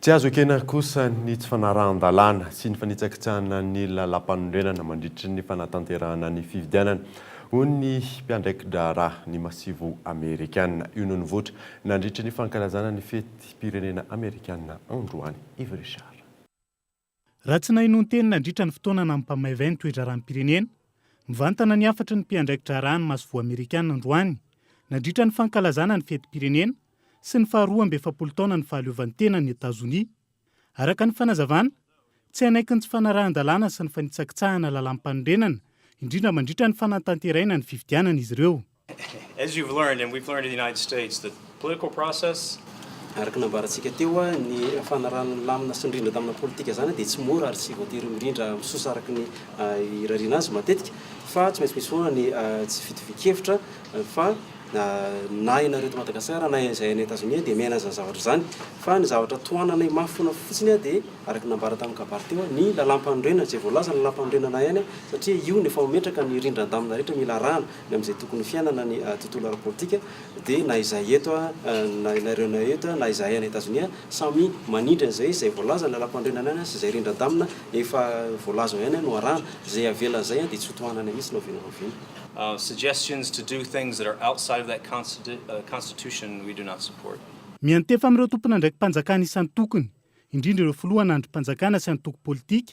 Tsy azo ekena kosa ny tsy fanarahan-dalàna sy ny fanitsakitsahana ny lalàmpanorenana mandritra ny fanatanterahana ny fifidianana, hoy ny mpiandraiki-draharaha ny Masivo Amerikana. Io no nivoitra nandritra ny fankalazana ny fetim-pirenena Amerikana androany. Yves Richard. Raha tsy naheno ny teny nandritra ny fotoana nampamaivay ny toe-draharaham-pirenena, mivantana ny hafatry ny mpiandraiki-draharaha ny masoivoho amerikana androany, nandritra ny fankalazana ny fetim-pirenena sy ny faharoa amby efapolo taonan'ny fahaleovantenan'i Etazonia. Araka ny fanazavana, tsy hanaiky ny tsy fanarahan-dalàna sy ny fanitsakitsahana lalàm-panorenana, indrindra mandritra ny fanatanterahina ny fifidianana izy ireo. Araka ny nambarantsika teo, ny fanarahan'ny lamina sy ny rindra tamina politika izany dia tsy mora ary tsy voatery mirindra misosa araka ny irariana azy matetika fa tsy maintsy misy foana ny tsy fitovian-kevitra fa na ianareo eto Madagasikara na izay any Etazonia dia miaina izany zavatra izany fa ny zavatra tohananay mafy foana fotsiny dia araka ny nambara tamin'ny kabary teo ny lalampanorenana izay voalaza ny lalampanorenana ihany satria io no efa mametraka ny rindran-damina rehetra mila arahana ny amin'izay tokony ho fiainana ny tontolo ara-politika, dia na izahay eto, na ianareo na eto, na izahay any Etazonia, samy manindry an'izay izay voalazan'ilay lampandrianana ihany sy izay rindran-damina efa voalaza ao ihany no arahana. Izay avela izay dia tsy ho tohanana mihitsy na oviana na oviana. Suggestions to do things that are outside of that constitution we do not support. Miantefa amin'ireo tompon'andraiki-panjakana isan-tokony, indrindra ireo filoha an'andrim-panjakana sy antoko politika,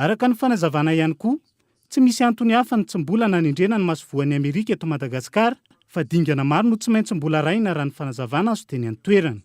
Araka ny fanazavana ihany koa, tsy misy antony hafa ny tsy mbola nanendrena ny masovoan'i Amerika eto Madagasikara fa dingana maro no tsy maintsy mbola arahina raha ny fanazavana azo teny an-toerana.